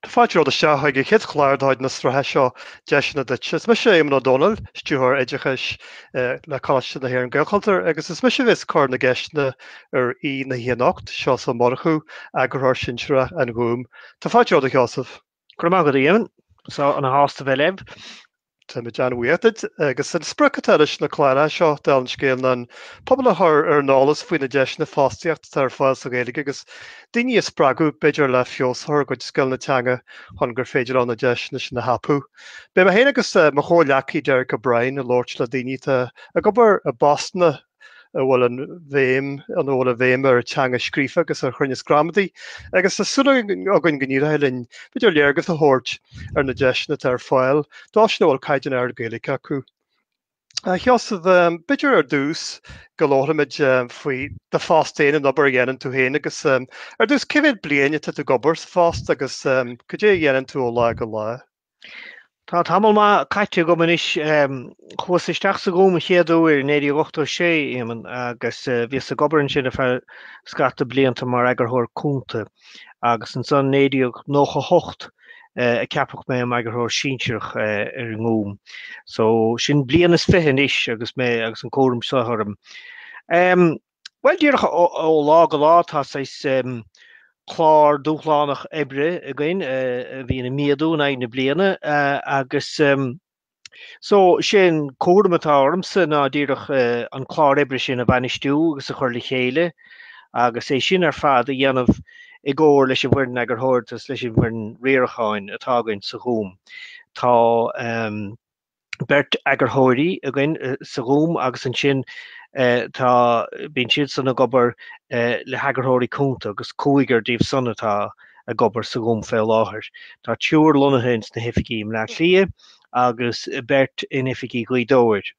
Tá fáilte romhat isteach chuig an chéad chlár de chuid na sraithe seo Deiseanna Duit. Is mise Éamonn Ó Dónaill, Stiúrthóir Oideachais le Coláiste na hÉireann Gaelchultúr agus is mise a bheas ag cur na gceisteanna ar aoi na hoíche anocht, Seosamh Ó Murchú, Eagarthóir Sinsearach an Ghúim. Tá fáilte romhat, a Sheosaimh. Go raibh maith agat, a Éamoinn. Is ana-shásta a bheith libh. Táimid an-bhuíoch duit agus an sprioc atá leis na cláir seo dála an scéil ná an pobal a chur ar an eolas faoi na deiseanna fostaíochta atá ar fáil sa Ghaeilge agus daoine a spreagadh b'fhéidir le feabhas a chur ar a gcuid scileanna teanga chun gur féidir leo na deiseanna sin a thapú. Beidh mé féin agus mo chomhghleacaí Derek O'Brien ag labhairt le daoine atá ag obair i bpostanna a bhfuil an bhéim an a bhfuil an bhéim ar an teanga scríofa agus ar chruinneas gramadaí, agus tá súil againn go n-éireoidh linn b'fhéidir léargas a thabhairt ar na deiseanna atá ar fáil dóibhsean a bhfuil caighdeán ard Gaeilge acu. A Sheosaimh, b'fhéidir ar dtús go labharfaimid faoi do phost féin, an obair a dhéanann tú féin agus ar dtús cé mhéad bliain atá tú ag obair sa phost agus cad é a dhéanann tú ó lá go lá? Tá tamall maith caite agam anois. Chuas isteach sa Ghúm an chéad uair 1986, a Éamoinn, agus bhíos ag obair ansin ar feadh scata blianta mar eagarthóir cúnta agus ansan 1998 a ceapadh mé im eagarthóir sinsearach ar an nGúm. So, sin bliain is fiche anois agus mé agus an cúram seo orm. Bhuel, díreach ó lá go lá tá saghas clár dúshlánach oibre againn a bhíonn ag méadú in aghaidh na bliana agus so sin é an cúram atá ormsa ná díreach an clár oibre sin a bhainistiú agus a chur le chéile agus é sin ar fad a dhéanamh i gcomhar leis an bhfoireann eagarthóireachta agus leis an bhfoireann riaracháin atá againn sa Ghúm. Tá beirt eagarthóirí againn sa Ghúm agus ansin tá, bíonn siadsan ag obair le heagarthóirí cúnta agus cúigear díobh san atá ag obair sa Ghúm fé láthair. Tá triúr lonnaithe ins na hoifigí i mBleá Cliath agus beirt in oifigí Ghaoth Dobhair,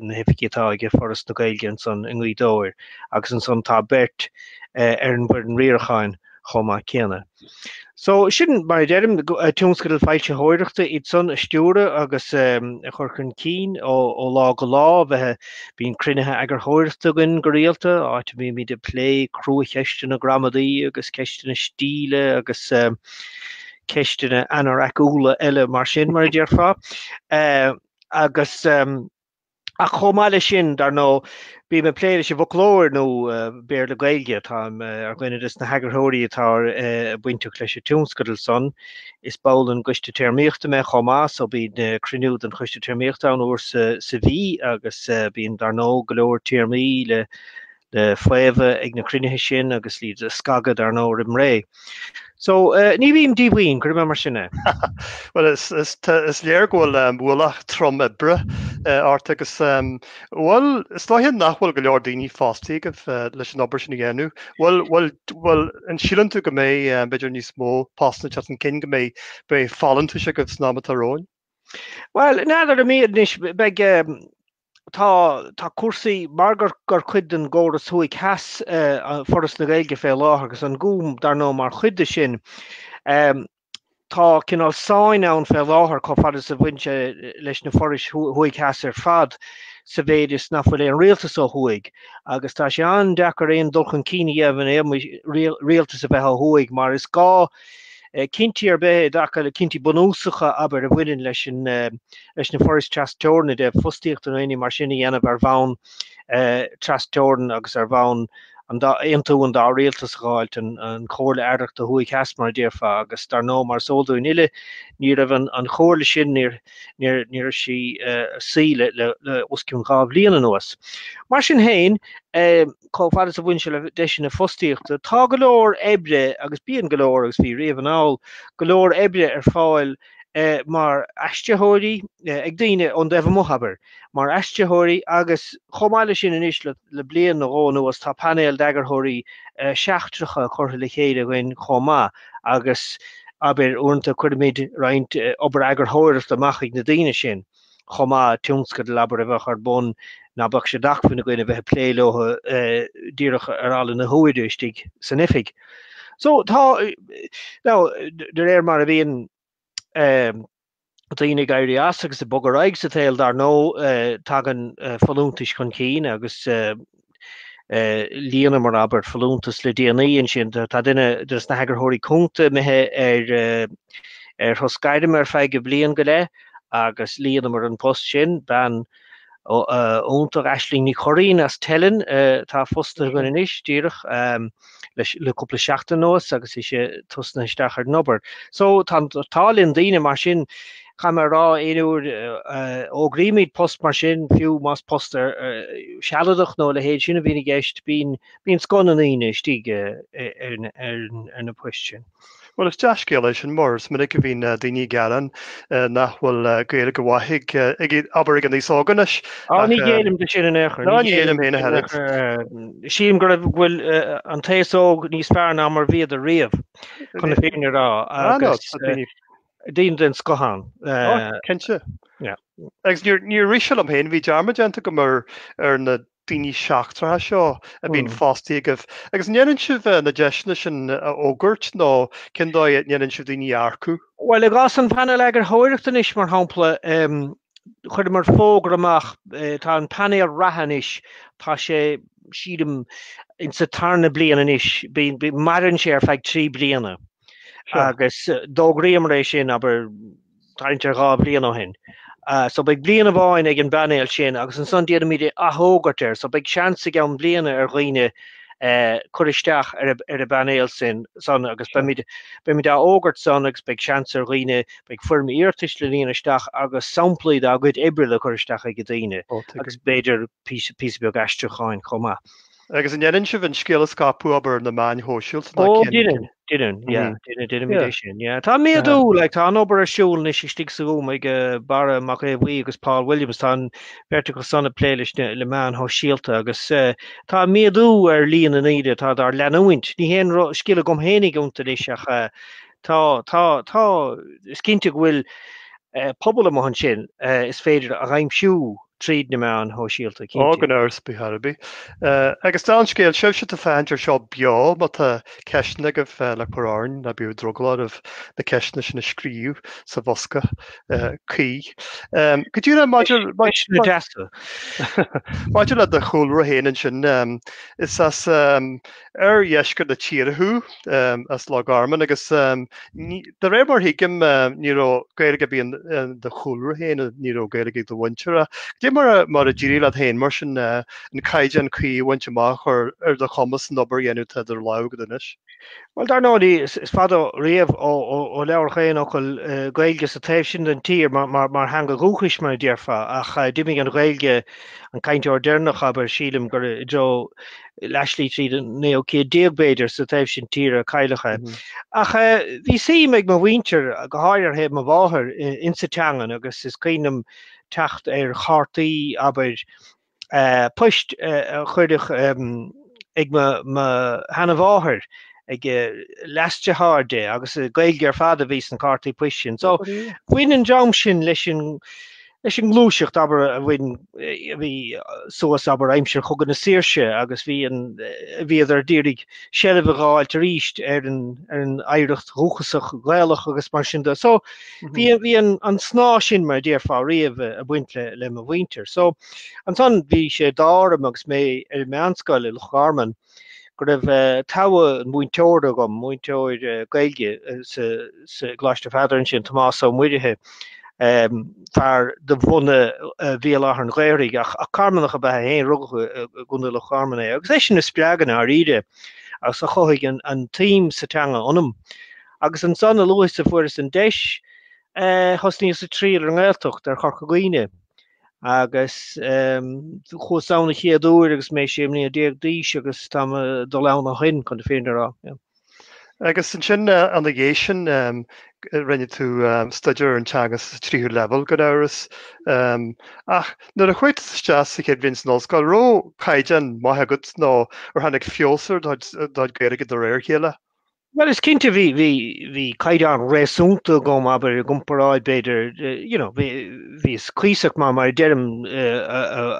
na hoifigí atá aige Foras na Gaeilge ansan i nGaoth Dobhair agus ansan tá beirt ar an bhfoireann riaracháin chomh maith céanna. So, sin mar a deirim, tionscadail foilsitheoireachta iad san a stiúradh agus a chur chun cinn ó lá go lá, bheith, bíonn cruinnithe eagarthóireachta againn go rialta, áit a mbímíd ag plé cruacheisteanna gramadaí agus ceisteanna stíle agus ceisteanna anoraiciúla eile mar sin, mar a déarfá. Agus. Ach chomh maith leis sin, dar ndóigh, bím ag plé leis an bhfoclóir nua Béarla-Gaeilge, táim ar dhuine des na heagarthóirí atá bainteach leis an tionscadal san. Is ball den gCoiste Téarmaíochta mé chomh maith, so bíonn cruinniú den Choiste Téarmaíochta ann uair sa mhí agus bíonn, dar ndóigh, go leor téarmaí le le faomhadh ag na cruinnithe sin agus iad a scagadh dar ndóigh roimh ré. So ní bhím díomhaoin cuirim mar sin é. Bhuel is léir go bhfuil ualach trom oibre ort agus bhuel is dóiche nach bhfuil go leor daoine fostaí agaibh leis an obair sin a dhéanamh. Bhuel an síleann tú go mbeidh b'fhéidir níos mó postanna ag teacht chun cinn go mbeidh beidh folúntais agaibh san am atá romhainn? Bhuel n'fheadar ambaist anois beidh tá, tá cúrsaí, mar gur cuid den gcóras thuaidh theas eh Foras na Gaeilge fé láthair agus an Gúm dar ndóigh mar chuid de sin, em tá cineál sáinn ann fé láthair chomh fada is a bhaineann sé leis na forais thuaidh theas ar fad sa mhéid is nach bhfuil aon rialtas ó thuaidh agus tá sé an-deacair aon dul chun cinn a dhéanamh in éagmais rialtas a bheith ó thuaidh mar is gá Cinntí ar bith i dtaca le cinntí bunúsacha, abair, a bhaineann leis na forais trasteorann, ó thaobh fostaíochta nó aon ní mar sin, a dhéanamh ar bhonn trasteorann agus ar bhonn an dá, aontú an dá Rialtas a dh'fháilt an Chomhairle Aireachta Thuaidh Theas, mar a déarfá, agus dar ndóigh, mar is eol dúinn uile, ní raibh an Chomhairle sin, ní raibh sí suí le os cionn dhá bhliain anuas. Mar sin féin, chomh fada is a bhaineann sé le deiseanna fostaíochta, tá go leor oibre agus bíonn go leor agus bhí riamh anall go leor oibre ar fáil mar aistritheoirí ag daoine ón taobh amuigh, abair, mar aistritheoirí agus chomh maith leis sin anois le bliain nó dhó anuas tá painéal d'eagarthóirí seachtracha curtha le chéile againn chomh maith agus, abair, uaireanta cuirimid roinnt obair eagarthóireachta amach chuig na daoine sin. chomh maith, tionscadal abair a bheadh ar bun ná beadh sé d'acmhainn againn a bheith ag plé leotha díreach ar ala na huaire istigh san oifig. So tá now de réir mar a bhíonn um, daoine ag éirí as agus ag bogadh ar aghaidh sa tsaol dar ndóigh uh, tagann uh, folúntais chun cinn agus uh, líonamar abair folúntas le déanaí ansin. Tá duine de sna heagarthóirí cúnta imithe ar ar shos gairme ar feadh bliain go leith agus líonamar an post sin bean iontach Aisling Ní Churraighín as Teileann atá fostaithe againn anois díreach. le cúpla seachtain anuas agus í ag tosnú isteach ar an obair. So tá, tá daoine, tagann daoine mar sin caithfidh mé a rá aon uair a fhógraímid post mar sin fiú más post sealadach nó a leithéid sin a bhíonn i gceist bíonn bíonn scoth na ndaoine istigh ar na poist sin. Bhuel, is dea-scéal é sin mar is minic a bhíonn daoine ag gearán nach bhfuil Gaeilge mhaith ag, abair, ag an aos óg anois Á, ní ghéillim dó sin in aon chor, Ní ghéillim féin ach an oiread. Sílim go raibh go bhfuil eh, an t-aos óg níos fearr ná mar bhíodar riamh, chun na fírinne a rá, agus daoine den scoth ann. Cinnte. Agus níor rith sé liom féin, bhí dearmad déanta agam ar, ar na daoine seachtracha seo a bhíonn fostaí agaibh agus an ndéanann sibh na deiseanna sin a fhógairt nó cén dóigh a ndéanann sibh daoine a earcú? Bhuel, i gcás an Phainéil Eagarthóireachta anois, mar shampla, chuireamar fógra amach, tá an painéal reatha anois, tá sé, sílim, insa tarna bliain anois, maireann sé ar feadh trí bliana. agus d'fhógraíomar é sin abair tarraingt ar dhá bhliain ó shin. So beidh bliain amháin ag an bpainéal sin agus ansan déanaimid é a athfhógairt arís. So beidh seans i gceann bliana ag daoine cur isteach ar an bpainéal sin san agus beimid á fhógairt san agus beidh seans ag daoine, beidh foirm iarratais le líonadh isteach agus samplaí dá gcuid oibre le cur isteach ag daoine agus b'fhéidir píosa beag aistriúcháin chomh maith. Agus an ndéanann sibh an scéal a scaipeadh abair ar na meáin shóisialta ná cén fhíor? Ó, deineann, deineann, yeah, deineann, deineann, deineann, yeah, deineann, yeah. Tá méadú, like, tá an obair ar siúl anois istigh sa Ghúm ag Barra Mac Aodha Bhuí agus Paul Williams, tá an bheirt acu san ag plé leis na, le meáin shóisialta agus tá méadú ar líon na ndaoine atá dár leanúint. Ní haon scil agam féinig iontu anois ach Tá, tá, tá. Is cinnte go bhfuil pobal amuigh ansin is féidir a aimsiú tríd na meáin shóisialta, cinnte. Gan amhras ar bith, ar bith. Agus dála an scéil, sibhse atá ag féachaint air seo beo, má tá ceisteanna agaibh le cur orainn, ná bíodh drogall oraibh na ceisteanna sin a scríobh sa bhosca cuí. Go díreach maidir, maidir le do chúlra féin ansin, is as, oirdheisceart na tíre thú? As Loch Garman agus de réir mar thuigim ní raibh Gaeilge beo i do chúlra féin agus ní raibh Gaeilge ag do mhuintir ach cad é mar a d'éirigh leat féin mar sin an caighdeán cuí a bhaint amach a chuir ar do chumas an obair a dhéanamh atá idir lámha agat anois? Bhuel, dar ndóigh is fada riamh ó labhraíodh aon fhocal Gaeilge sa taobh sin den tír mar theanga dhúchais mar a déarfá ach d'imigh an Ghaeilge, an cainteoir deireanach abair, sílim gur i dtreo leathslí tríd an naoú céad déag b'fhéidir sa taobh sin tíre a cailleadh é. Ach bhí suim ag mo mhuintir go háirithe ar thaobh mo mháthar insa teangain agus is cuimhin liom teacht ar chártaí, abair, poist a cuireadh ag mo sheanamháthair, ag leasdeartháir di agus Gaeilge ar fad a bhí sna cártaí poist sin. So bhain an dream sin leis an Leis an ngluaiseacht abair a bhain a bhí suas abair aimsir Chogadh na Saoirse agus bhí an bhíodar d'iarraidh seilbh a dh'fháilt arís ar an ar an oidhreacht dhúchasach Ghaelach agus mar sin de. So bhí bhí an an snáth sin mar a déarfá riamh ag baint le le mo mhuintir. So ansan bhí sé d'ádh orm agus mé ar an meánscoil i Loch Garman go raibh togha múinteora agam, múinteoir Gaeilge sa Choláiste Pheadair ansin, Tomás Ó Muirithe, fear de bhunadh Bhéal Átha an Ghaorthaidh ach Carmanach ab ea é fhéin, rugadh i gContae Loch Garman é, agus eisean a spreag i ndáiríre agus a chothaigh an tsuim sa teanga ionam. Agus ansan, a luaithe is a fuaireas an deis, thosnaíos ag triall ar an nGaeltacht, ar Chorca Dhuibhne, Agus chuas ann an chéad uair agus mé 16 bliana d'aois agus tá mé ag dul ann ó shin chun na fírinne a rá. Agus ansin i ndiaidh sin rinne tú staidéar ar an teanga sa tríú leibhéal gan amhras. Ach nuair a chuaigh tú isteach sa chéad bhliain san ollscoil an raibh caighdeán maith agat nó ar tháinig feabhas ar do chuid Gaeilge de réir a chéile? Bhuel is cinnte bhí bhí bhí caighdeán réasúnta agam abair i gcomparáid b'fhéidir you know bhí bhíos cuíosach maith mar a deirim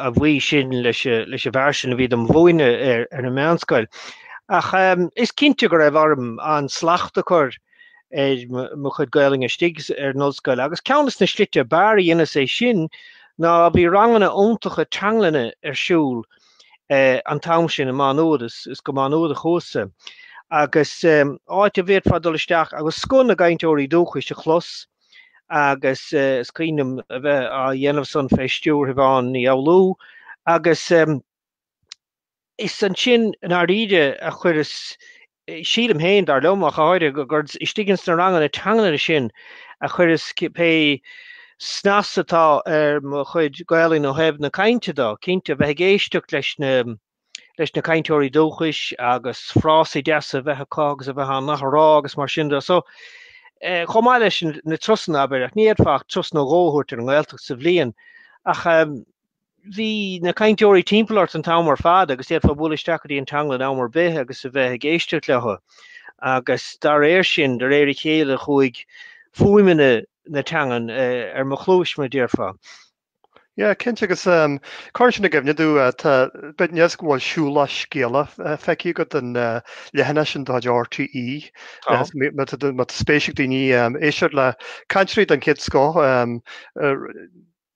a bhuí sin leis leis an bhfear sin a bhí dom' mhúineadh ar ar an meánscoil. Ach is cinnte go raibh orm an-slacht a chur ar mo chuid Gaolainne istigh ar an ollscoil agus ceann des na slite ab fhearr a dheineas é sin ná bhí ranganna iontacha teanglainne ar siúl an t-am sin i Má Nuad, is is go Má Nuad a chuas-sa, agus áit a bhféadfá dul isteach agus scoth na gcainteoirí dúchais a chlos agus is cuimhin liom a bheith á dhéanamh san fé stiúir Shiobhán Ní Fhoghlú agus is ansin i ndáiríre a chuireas Sílim fhéin, dar liom ach go háirithe, gurb istigh ins na ranganna teanglainne sin a chuireas pé snas atá ar mo chuid Gaelainne ó thaobh na cainte de. Cinnte, bheith ag éisteacht leis na leis na cainteoirí dúchais agus frásaí deasa a bheith acu agus a bheith á n-athrá agus mar sin de. So, eh, chomh maith leis na turasanna, abair, ach ní fhéadfá ach turas nó dhó a thabhairt ar an nGaeltacht sa bhliain ach, em, bhí na cainteoirí timpeall ort an t-am ar fad agus d'fhéadfá bualadh isteach go dtí an teanglann am ar bith agus a bheith ag éisteacht leo. Agus dá réir sin, de réir a chéile chuaigh fuaimeanna na teangan ar mo chluais, mar a déarfá. Yeah, cinnte agus cuireann sin i gcuimhne domh, tá, b'fhéidir ní fios go bhfuil Siúlach Scéalach feicthe agat, an leathanach sin de chuid RTÉ. Má tá spéis ag daoine éisteacht le cainteoirí den chéad scoth,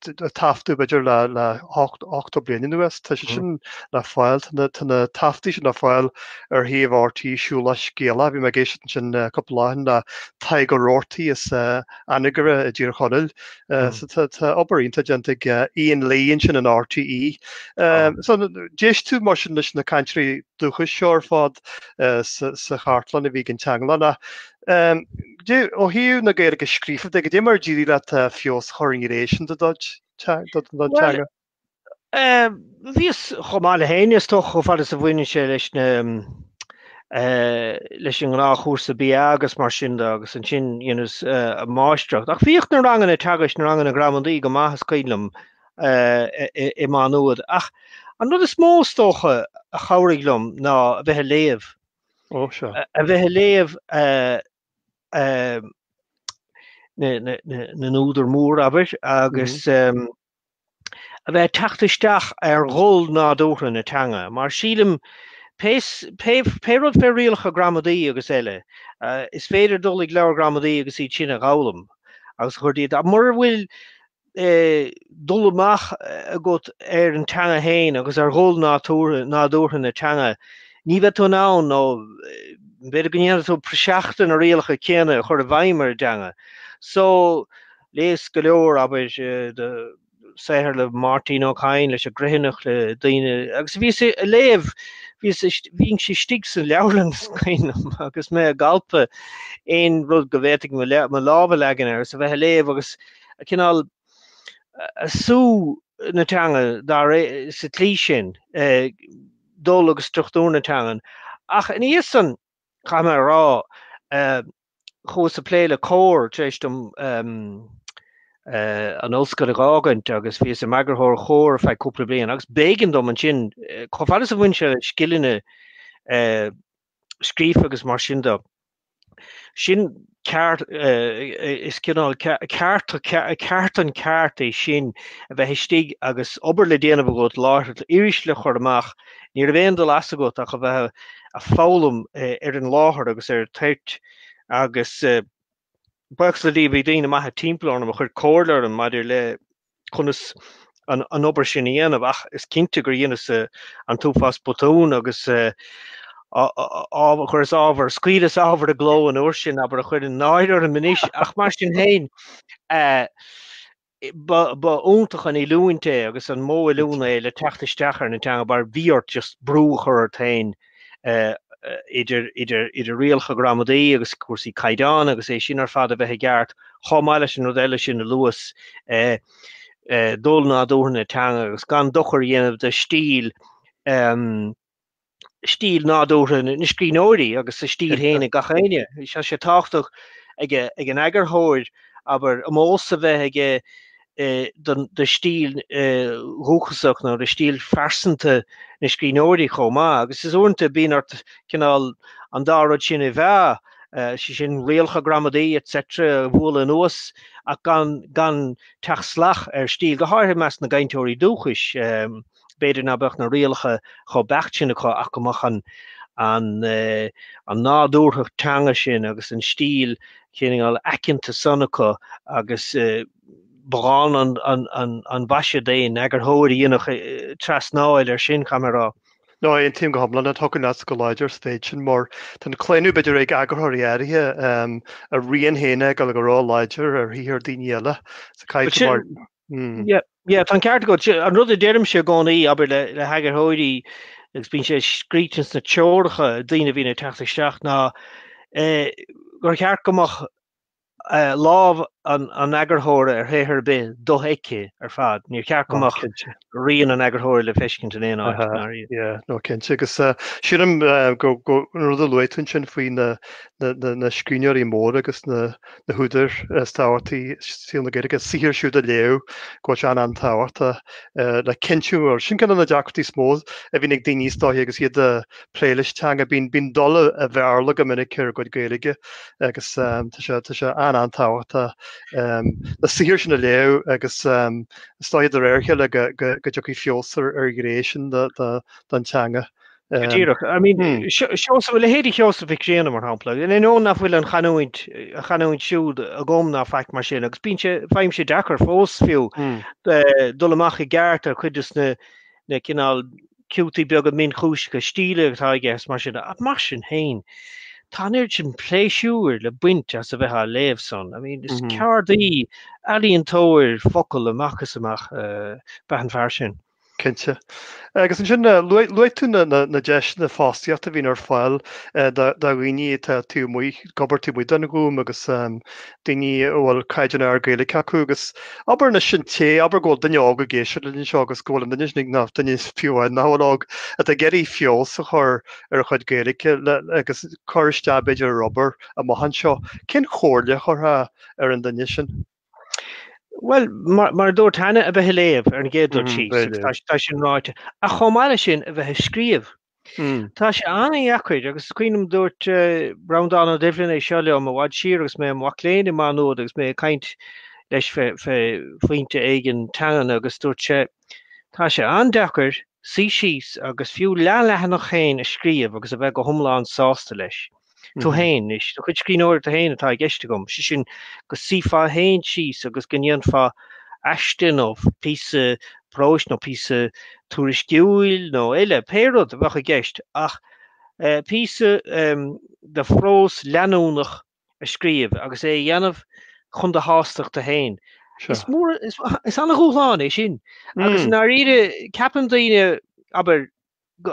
le taifeadtaí b'fhéidir le le hochtó bliain anuas tá siad sin le fáil. Tá na tá na taifeadtaí sin le fáil ar shuíomh RTÉ Siúlach Scéalach. Bhí mé ag éisteacht ansin cúpla lá ó shin le Tadhg Ó Rabhartaigh as Anagaire i dTír Chonaill. So tá tá obair iontach déanta ag Ian Lee ansin in RTÉ. So d'éist tú mar sin leis na cainteoirí dúchais seo ar fad sa sa chartlann a bhí ag an teanglann ach Ó thaobh na Gaeilge scríofa de, go dé mar a d'éirigh leat feabhas a chur in éis a chéile ar do theanga? Bhíos chomh maith le héinne is dócha chomh fada is a bhaineann sé leis na leis an gnáthchúrsa BA agus mar sin de agus ansin dheineas an máistreacht. Ach bhíodh na ranganna teagaisc, na ranganna gramadaí go maith is cuimhin liom i Má Nuad. Ach an rud is mó is dócha a chabhraigh liom ná a bheith ag léamh Ó sea. a bheith a léamh na n-údar mór abair agus a bheith ag teacht isteach ar dhul nádúrtha na teanga mar sílim pé pé rud fé rialacha gramadaí agus eile is féidir dul ag leabhar gramadaí agus iad sin a dh'fhoghlaim agus a chur díot ach mura bhfuil dul amach agat ar an teanga féin agus ar dhul nádúrtha na teanga, ní bheidh tú in ann nó b'fhéidir go ndéanfaidh tú praiseach de na rialacha céanna a chur i bhfeidhm ar an dteanga. So, léas go leor, abair, de shaothair le Máirtín Ó Cadhain, leis an gCriomhthanach, le daoine, agus a bhíos ag léamh, bhínnse istigh sa leabharlann is cuimhin liom agus mé ag alpadh aon rud go bhféadfainn mo lámh a leagan air agus a bheith ag léamh agus a cineál ag sú na teanga dáiríre sa tslí sin, dul agus struchtúr na teangan. Ach ina dhiaidh san, caithfidh mé a rá, chuas ag plé le Comhar tar éis dom an ollscoil a dh'fhágaint agus bhíos im eagarthóir ar Chomhar ar feadh cúpla bliain agus b'éigean dom ansin, chomh fada is a bhain sé le scileanna scríofa agus mar sin de. Sin ceárta, is cineál ceárta, ceártan ceart é sin a bheith istigh agus obair le déanamh agat láithreach iris le chur amach ní raibh aon dul as agat ach a bheith ag foghlaim ar an láthair agus ar an toirt agus buíochas le Dia bhí daoine maithe timpeall orm a chuir comhairle orm maidir le conas an obair sin a dhéanamh ach is cinnte gur dheineas an t-uafás botún agus chuireas ábhar, scaoileas ábhar i gcló an uair sin, abair, a chuireann náire orm anois ach mar sin féin, Ba iontach an oiliúint é agus an modh oiliúna é le teacht isteach ar an teanga mar bhí ort just brú a chur ort féin idir rialacha gramadaí agus cúrsaí caighdeáin agus iad sin ar fad a bheith i gceart chomh maith leis an rud eile sin a luas dul nádúrtha na teanga agus gan dochar a dhéanamh do stíl stíl nádúrtha na scríbhneoirí agus a stíl féin ag gach éinne. Tá sé tábhachtach ag an eagarthóir abair omós a bheith aige do stíl dhúchasach nó do stíl phearsanta na scríbhneoirí chomh maith agus is uaireanta bíonn ort cineál an dá rud sin a mheá, sé sin rialacha gramadaí etc a bhualadh anuas ach gan gan teacht salach ar stíl, go háirithe i measc na gcainteoirí dúchais. B'fhéidir ná beadh na rialacha chomh beacht sin acu ach go mbeadh an nádúrthacht teanga sin agus an stíl chineál aiceanta san acu agus ba dhána an mhaise d'aon eagarthóir a dhéanfadh trasnáil air sin, caithfidh mé a rá. No, aontaím go hiomlán, aontaím leat go láidir sa mhéid sin mar tá an claonadh b'fhéidir ag eagarthóirí áirithe a rian féin a fheiceáil go ró-láidir ar shaothar daoine eile. Yep, tá an ceart agat. An rud a deirimse i gcónaí, abair le heagarthóirí, agus bíonn sé scríte sna treoracha daoine a bhíonn ag teacht isteach, ná gur cheart go mbeadh lámh an eagarthóra ar shaothar ar bith dofheicthe ar fad. Níor cheart go mbeadh rian an eagarthóra le feiscint in aon áit, in aon chor. Yeah, no, cinnte. Agus sílim an rud a luaigh tú ansin faoi na scríbhneoirí móra agus na. na húdair is tábhachtaí i saol na Gaeilge, saothar siúd a léamh go bhfuil sé an-tábhachtach le cinntiú go bhfuil. Sin ceann de na deacrachtaí is mó a bhíonn ag daoine is dóiche agus iad ag plé leis an teanga. Bíonn dul an Bhéarla go minic ar a gcuid Gaeilge agus tá sé an-tábhachtach na saothair sin a léamh agus is dóiche de réir a chéile go dtiocfaidh feabhas ar an ghné sin den teanga. Go díreach. I mean, Seosamh, a leithéidí Sheosamh Mhic Grianna, mar shampla, in ainneoin nach bhfuil an chanúint, a chanúint siúd agam ná faic mar sin, agus bíonn sé, faighim sé deacair fós fiú dul amach i gceart ar chuid des na cineál ciútaí beaga mionchúiseacha stíle atá aige agus mar sin. Ach mar sin féin, tá an oiread sin pléisiúir le baint as a bheith á léamh san. I mean, is ceardaí, ealaíontóir focal amach is amach, ab ea an fear sin. Cinnte. Agus ansin, luaigh tú na deiseanna fostaíochta a bhíonn ar fáil do dhaoine atá taobh amuigh, ag obair taobh amuigh den Ghúm agus daoine a bhfuil caighdeán ard Gaeilge acu agus abair anois an té, abair go bhfuil duine óg ag éisteacht linn anseo agus go bhfuil an duine sin ag, nó duine fiú amháin nach bhfuil óg, atá ag iarraidh feabhas a chur ar a chuid Gaeilge agus cur isteach b'fhéidir ar obair amach anseo. Cén chomhairle a chuirfeá ar an duine sin? Bhuel, mar a dúirt Hannah, a bheith ag léamh ar an gcéad rud síos, tá sin ráite. Ach chomh maith leis sin, a bheith ag scríobh. Tá sé an-deacair agus cuimhním dúirt Breandán Ó Doibhlin é seo liom i bhfad siar agus mé i mo mhac léinn i Má Nuad agus mé ag caint leis fé phointe éigin teangan agus dúirt sé Tá sé an-deacair suí síos agus fiú leath-leathanach féin a scríobh agus a bheith go hiomlán sásta leis. Tú fhéin, is do chuid scríbhneoireachta fhéin atá i gceist agam, sé sin go suífeá fhéin síos agus go ndéanfá aiste nó píosa próis nó píosa tuairisciúil nó eile, pé rud a bheadh i gceist ach píosa de phrós leanúnach a scríobh agus é a dhéanamh chun do shástachta fhéin. Is an-dhúshlán é sin agus i ndáiríre ceapann daoine, abair,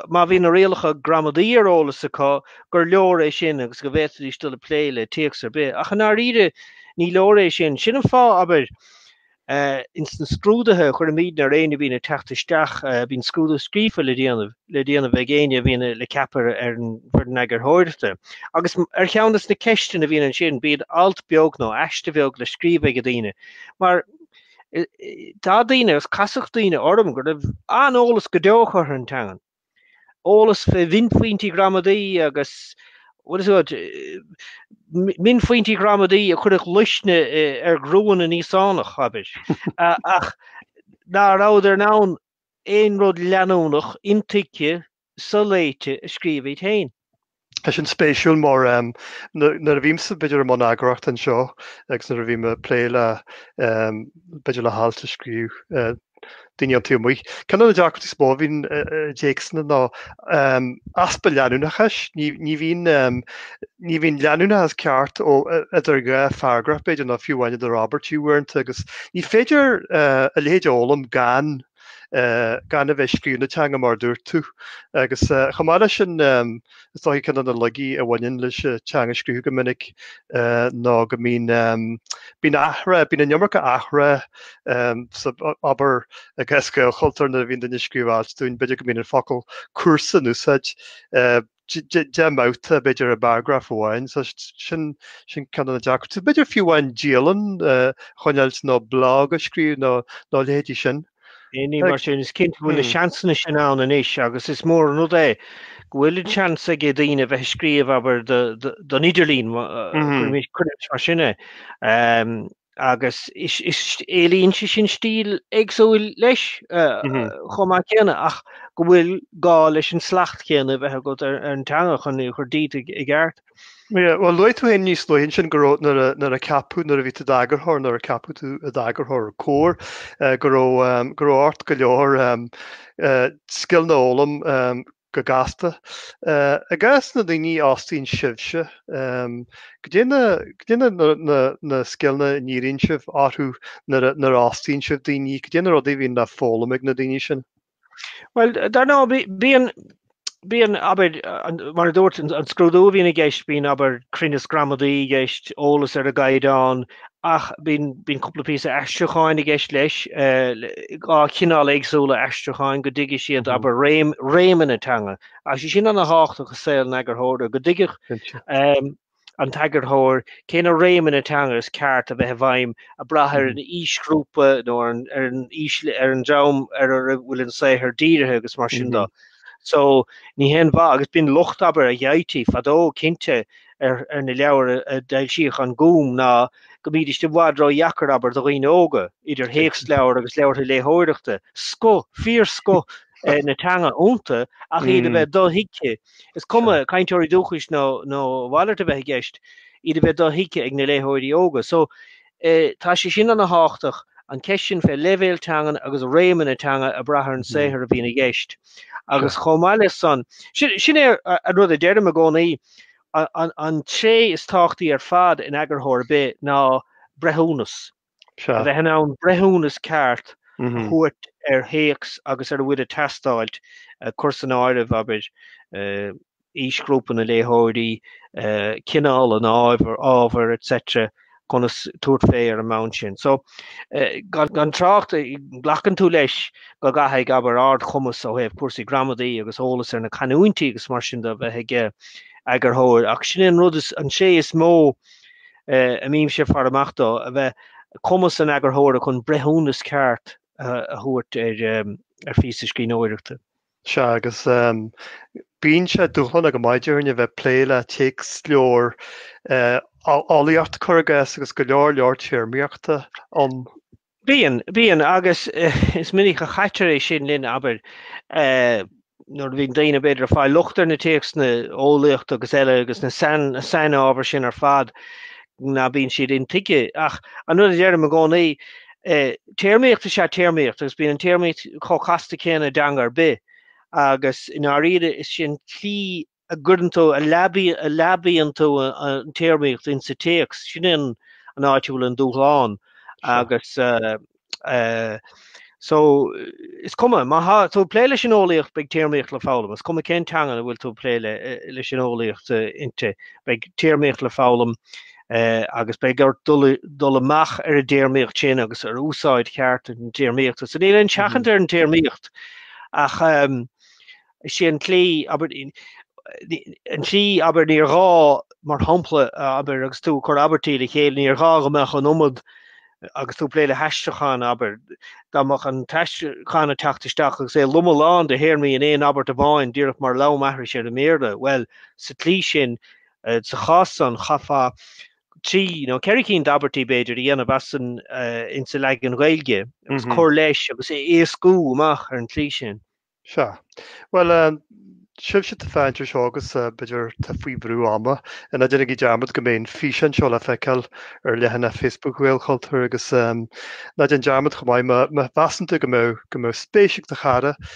má bhíonn na rialacha gramadaí ar eolas acu, gur leor é sin agus go bhféadfaidís dul ag plé le téacs ar bith. Ach i ndáiríre, ní leor é sin. Sin an fáth, abair, ins na scrúduithe a chuirimídne ar éinne a bhíonn ag teacht isteach, bíonn scrúdú scríofa le déanamh, le déanamh ag éinne a bhíonn le ceapadh ar an bhfoireann eagarthóireachta. Agus ar cheann de na ceisteanna a bhíonn ansin, bíonn alt beag nó aiste bheag le scríobh ag daoine, mar, tá daoine agus casadh daoine orm go raibh an-eolas go deo acu ar an teangan. Eolas fé mhionphointí gramadaí agus mionphointí gramadaí a chuirfeadh luisne ar ghruanna na nÍosánach, abair. Ach ná rabhadar in ann aon rud leanúnach, intuigthe, soléite a scríobh iad féin. Tá sin spéisiúil mar nuair a bhímsa b'fhéidir i mbun eagarthóireachta anseo agus nuair a bhím ag plé le b'fhéidir le hailt a scríobh daoine ón taobh amuigh, ceann de na deacrachtaí is mó a bhíonn i dtéacsanna ná easpa leanúnachais. Ní bhíonn leanúnachas ceart idir dhá pharagraf b'fhéidir nó fiú amháin idir abairt uaireanta agus ní féidir a leithéid a fhoghlaim gan gan a bheith ag scríobh na teanga mar a dúirt tú. Agus chomh maith leis sin is dócha ceann de na laigí a bhaineann leis an teanga a scríobh go minic ná go mbíonn bíonn athrá, bíonn an iomarca athrá sa obair againne i nGaelchultúr nuair a bhíonn duine ag scríobh alt dúinn, b'fhéidir go mbíonn an focal cúrsa in úsáid. deich mbabhta, b'fhéidir, i bparagraf amháin. So sin ceann de na deacrachtaí. B'fhéidir fiú amháin dialann a choinneáilt nó blog a scríobh nó leithéidí sin. Ní mar sin is cinnte go bhfuil na seansanna sin ann anois agus is mór an rud é go bhfuil an seans ag daoine a bheith ag scríobh, abair, don idirlíon, cuirimis mar sin é. agus éilíonn sé sin stíl éagsúil leis chomh maith céanna, ach go bhfuil gá leis an slacht céanna a bheith agat ar an teanga chun é a chur díot i gceart. Bhuel, luaigh tú fhéin níos luaithe ansin go raibh, nuair a ceapadh, nuair a bhí tú i d'eagarthóir, nuair a ceapadh tú i d'eagarthóir Comhar, go raibh, go raibh ort go leor scileanna a fhoghlaim go gasta. I gcás na ndaoine a fhostaíonn sibhse, goidé na scileanna a ndíríonn sibh orthu nuair a fhostaíonn sibh daoine, goidé na rudaí a bhíonn le foghlaim ag na daoine sin? Bhuel, dar ndóigh, bíonn, bíonn, abair, mar a dúirt, an scrúdú a bhíonn i gceist, bíonn, abair, cruinneas gramadaí i gceist, eolas ar an gCaighdeán, ach bíonn cúpla píosa aistriúcháin i gceist leis, dhá chineál éagsúla aistriúcháin, go dtuigfidh siad, abair, réimeanna na teanga. Tá sé sin an-thábhachtach i saol an eagarthóra, go dtuigfeadh an t-eagarthóir cé na réimeanna teanga is ceart a bheith i bhfeidhm ag brath ar an aoisghrúpa nó ar an dream ar a bhfuil an saothar dírithe agus mar sin de. So ní haon mhaith, agus b'in locht, abair, a gheibhtí fadó, cinnte, ar na leabhair a d'fhoilsíodh An Gúm ná go mbídís i bhfad ró-dheacair, abair, do dhaoine óga, idir théacsleabhair agus leabhair léitheoireachta. Scoth, fíorscoth na teanga iontu ach iad a bheith dothuigthe. Is cuma cainteoirí dúchais nó a mhalairt a bheith i gceist, iad a bheith dothuigthe ag na léitheoirí óga. So Tá sé sin an-thábhachtach, an cheist sin fé leibhéal teangan agus réimeanna teanga ag brath ar an saothar a bhíonn i gceist. Agus chomh maith leis san, sin é an rud a deirim i gcónaí, an tréith is tábhachtaí ar fad in eagarthóir ar bith ná breithiúnas. A bheith in ann breithiúnas ceart a thabhairt ar théacs agus ar a bhfuil ag teastáilt, ag cur san áireamh, abair, aoisghrúpa na léitheoirí, cineál an ábhair etc. conas tabhairt fé ar an mbonn sin. So, gan trácht, glacann tú leis go gcaithfidh, abair, ardchumas ó thaobh cúrsaí gramadaí agus eolas ar na canúintí agus mar sin de a bheith ag eagarthóir ach sin é an rud, an tréith is mó a mbímse ag faire amach dó, a bheith, cumas an eagarthóra chun breithiúnas ceart a thabhairt ar phíosa scríbhneoireachta. Sea, agus bíonn sé dúshlánach go maith daoibh a bheith ag plé le téacsleabhar eolaíochta cuir i gcás agus go leor leor téarmaíochta ann. Bíonn, bíonn, agus is minic a chaitear é sin linn, abair, nuair a bhíonn daoine b'fhéidir ag fáil locht ar na téacsanna eolaíochta agus eile agus na, sna, sna hábhair sin ar fad ná bíonn siad intuigthe ach an rud a deirim i gcónaí Téarmaíocht is ea téarmaíocht agus bíonn an téarmaíocht chomh casta céanna i dteanga ar bith agus i ndáiríre is é an tslí a gcuireann tú, a leabaíonn tú an téarmaíocht ins sa téacs, sin é an an áit a bhfuil an dúshlán agus so is cuma, má tá tú ag plé leis an eolaíocht beidh téarmaíocht le foghlaim, is cuma cén teanga a bhfuil tú ag plé leis an eolaíocht inti, beidh téarmaíocht le foghlaim agus beidh ort dul amach ar an dtéarmaíocht sin agus ar úsáid cheart an téarmaíochta. So níl aon seachaint ar an téarmaíocht ach is é an tslí an tslí abair níor ghá mar shampla abair agus tú ag cur abairtí le chéile níor ghá go mbeadh an iomad agus tú ag plé le haistriúchán abair dá mbeadh an t-aistriúchán ag teacht isteach agus é lomlán de théarmaí in aon abairt amháin díreach mar leamhaithris ar an mBéarla. Bhuel sa tslí sin Sa chás san chaithfeá trí nó ceithre cinn d'abairtí b'fhéidir a dhéanamh as an insa leagan Gaeilge agus cur leis agus é éascú amach ar an tslí sin. Sea. Bhuel, sibhse atá ag féachaint air seo agus b'fhéidir atá faoi bhrú ama. Ná déanaigí dearmad go mbeidh an físeán seo le feiceáil ar leathanach Facebook Ghaelchultúir agus ná déan dearmad chomh maith, má mheasann tú go mbeadh spéis ag do chara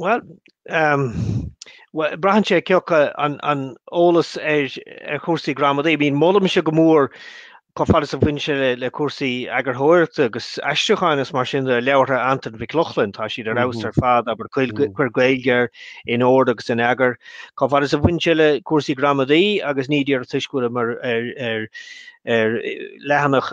Bhuel, braitheann sé ciacu an eolas ar chúrsaí gramadaí. I mean, molaimse go mór chomh fada is a bhaineann sé le cúrsaí eagarthóireachta agus aistriúcháin is mar sin de leabhartha Antain Mhic Lochlainn, tá siad ar fheabhas ar fad, abair Cuir Gaeilge Air, In Ord agus in Eagar. Chomh fada is a bhaineann sé le cúrsaí gramadaí agus ní díreach toisc go bhfuilim ar leathanach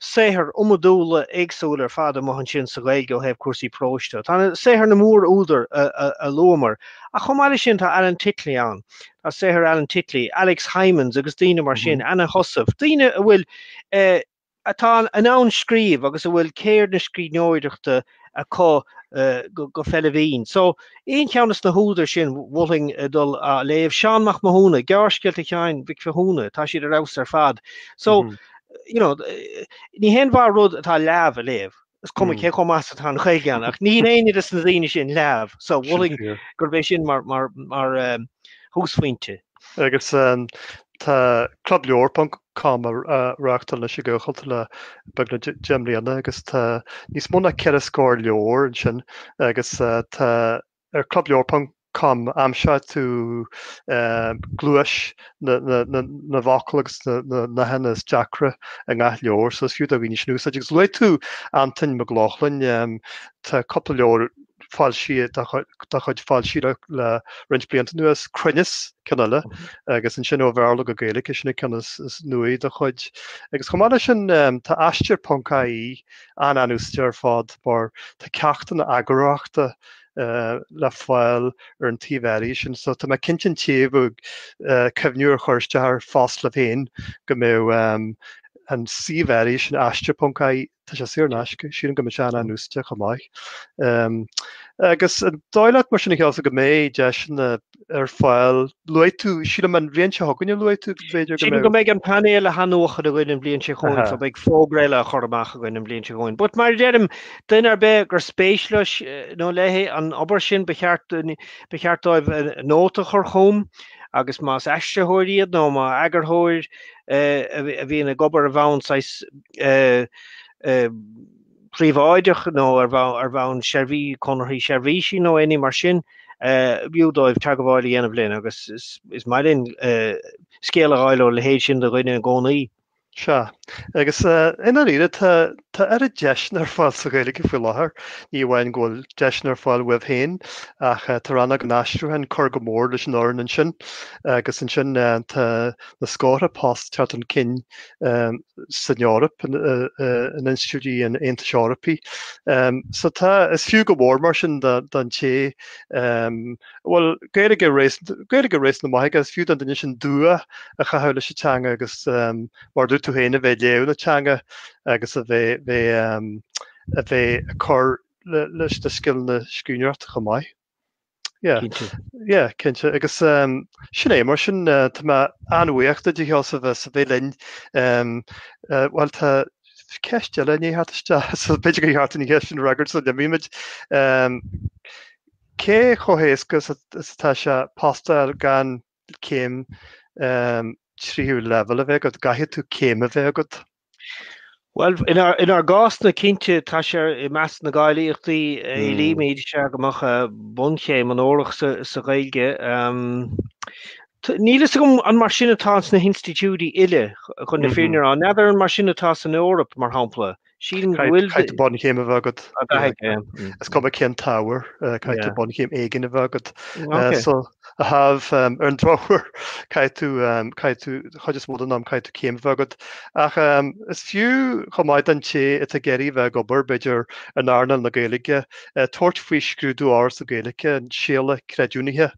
saothair iomadúla éagsúla ar fad amuigh ansin sa Ghaeilge ó thaobh cúrsaí próis de. Tá saothair na mór-údar a luamar ach chomh maith leis sin tá Alan Titley ann, tá saothair Alan Titley, Alex Hijmans agus daoine mar sin, Anna Heussaff, daoine a bhfuil, eh, atá in ann scríobh agus a bhfuil ceird na scríbhneoireachta, acu go feillbhinn. So, aon cheann as na húdair sin mholfainn a dul a léamh. Seán Mac Mathúna, Gearrscéalta Sheáin Mhic Mhathúna, tá siad ar fheabhas ar fad. So, you know, ní haon mhaith rud atá leamh a léamh. Is cuma cé chomh maith atá an Ghaeilge ann, ach ní héinne des na daoine sin leamh. So, mholfainn gurb é sin mar thúsphointe. Agus tá Club Leabhar ponc com á reáchtáil anois ag Gaelchultúr le beagnach deich mbliana agus tá níos mó ná ceithre scór leabhar ansin agus tá ar Club Leabhar ponc com aimseoidh tú gluais na bhfocal agus na nathanna is deacra i ngach leabhar so is fiú do dhaoine sin a úsáid. Agus luaigh tú Antain Mac Lochlainn, tá cúpla leabhar foilsithe dá chuid foilsithe le roinnt blianta anuas, Cruinneas ceann eile agus ansin ó Bhearla go Gaeilge is é sin an ceann is nuaí dá chuid. Agus chomh maith leis sin tá Aistear ponc AE an-úsáideach ar fad mar tá ceachtanna eagarthóireachta le fáil ar an tsuíomh áirithe sin so tá mé cinnte an té a bheadh ag cuimhniú ar chur isteach ar phost libh féin go mbeadh an suíomh áirithe sin, Aistear ponc AE, Tá sé saor in aisce. Sílim go mbeidh sé an-úsáideach chomh maith. Agus an dóigh leat mar sin a Sheosamh go mbeidh deiseanna ar fáil, luaigh tú, sílim an bhliain seo chugainn a luaigh tú go bhféidir go mbeidh? Sílim go mbeidh an painéal á athnuachan againn an bhliain seo chugainn, so beidh fógra eile á chur amach againn an bhliain seo chugainn. But mar a deirim, duine ar bith gur spéis leis nó léi an obair sin ba cheart dóibh nóta a chur chugam agus más aistritheoir iad nó más eagarthóir a bhíonn ag obair ar bhonn saghas príobháideach nó ar bhonn seirbhí conarthaí seirbhísí nó aon ní mar sin, b'fhiú dóibh teagmháil a dhéanamh linn agus is maith linn scéal a fháil óna leithéid sin de dhuine i gcónaí. Sea. Agus i ndáiríre, tá oiread deiseanna ar fáil sa Ghaeilge faoi láthair, ní amháin go bhfuil deiseanna ar fáil uaibh féin ach tá rannóg an aistriúcháin ag cur go mór leis an fhoireann ansin agus ansin tá na scórtha post ag teacht chun cinn san Eoraip, in institiúidí an Aontais Eorpaí. So tá, is fiú go mór mar sin don té a bhfuil Gaeilge réasúnta maith aige, is fiú don duine sin dua a chaitheamh leis an teanga agus, mar a dúirt tú féin, a bheith ag léamh na teanga agus a bheith ag cur leis na scileanna scríbhneoireachta chomh maith. Yeah, cinnte agus sin é mar sin tá mé an-bhuíoch díot a Sheosaimh as a bheith linn bhuel tá ceist eile i ndiaidh teacht isteach so b'fhéidir go dtabharfá an cheist sin a fhreagairt sula n-imímid cé chomh héasca atá sé post a fháil gan céim tríú leibhéal a bheith agat, an gcaithfidh tú céim a bheith agat Bhuel, inár gcásna, cinnte, tá sé i measc na gcáilíochtaí a éilímid, is ea go mbeadh bunchéim onórach sa Ghaeilge. Níl a fhios agam an mar sin atá sna hinstitiúidí uile chun na fírinne a rá. N'fheadar an mar sin atá san Eoraip, mar shampla? Sílim go bhfuil. Caithfidh bunchéim a bheith agat. Is cuma cén t-ábhar, caithfidh bunchéim éigin a bheith agat. a thaobh. Ar an drochuair caithfidh tú, caithfidh tú, an chuid is mó den am caithfidh tú céim a bheith agat. Ach is fiú chomh maith don té atá ag iarraidh a bheith ag obair, b'fhéidir, in earnáil na Gaeilge, tabhairt faoi scrúdú Fhoras na Gaeilge, an Séala Creidiúnaithe.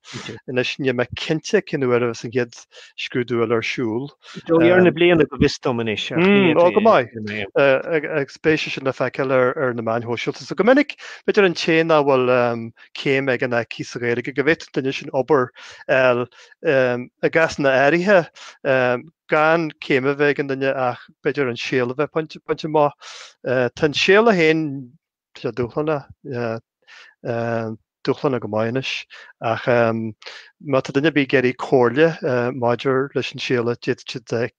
Anois níl mé cinnte cén uair a bheas an chéad scrúdú eile ar siúl. I dtreo dheireadh na bliana go bhfios dom anois. Ach ní fhéadfaidh. Ó go maith. Agus beidh sé sin le feiceáil ar na meáin shóisialta. So go minic b'fhéidir an té nach bhfuil céim aige ná aici sa Ghaeilge go bhféadfadh an duine sin obair a fháil i gcásanna áirithe gan céim a bheith ag an duine ach b'fhéidir an Séala a bheith bainte amach. Tá an Séala féin seo dúshlánach, dúshlánach go maith anois ach má tá duine ar bith ag iarraidh comhairle maidir leis an Séala d'fhéadfadh siad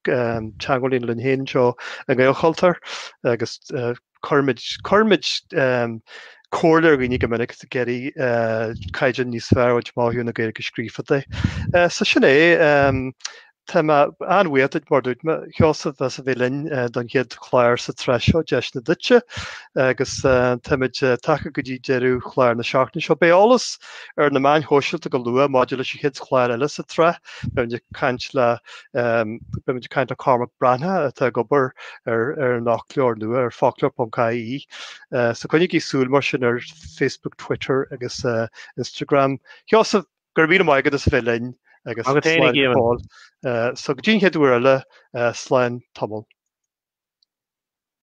teagmháil a dhéanamh linn féin anseo i nGaelchultúr agus cuirimid cuirimid comhairle ar dhaoine go minic is iad ag iarraidh caighdeán níos fearr a bhaint amach ó thaobh na Gaeilge scríofa de. So sin é. Tá mé an-bhuíoch duit mar dúirt mé, a Sheosaimh, as a bheith linn don chéad chlár sa tsraith seo, Deiseanna Duitse agus táimid tagtha go dtí deireadh chlár na seachtaine seo. Beidh eolas ar na meáin shóisialta go luath maidir leis an chéad chlár eile sa tsraith, beimid ag caint le Beimid ag caint le Cormac Breathnach atá ag obair ar an fhoclóir nua ar foclóir.ie so coinnigí súil mar sin ar Facebook, Twitter agus Instagram. A Sheosaimh, go raibh míle maith agat as a bheith linn agus slán go fóill. So go dtí an chéad uair eile, slán tamall.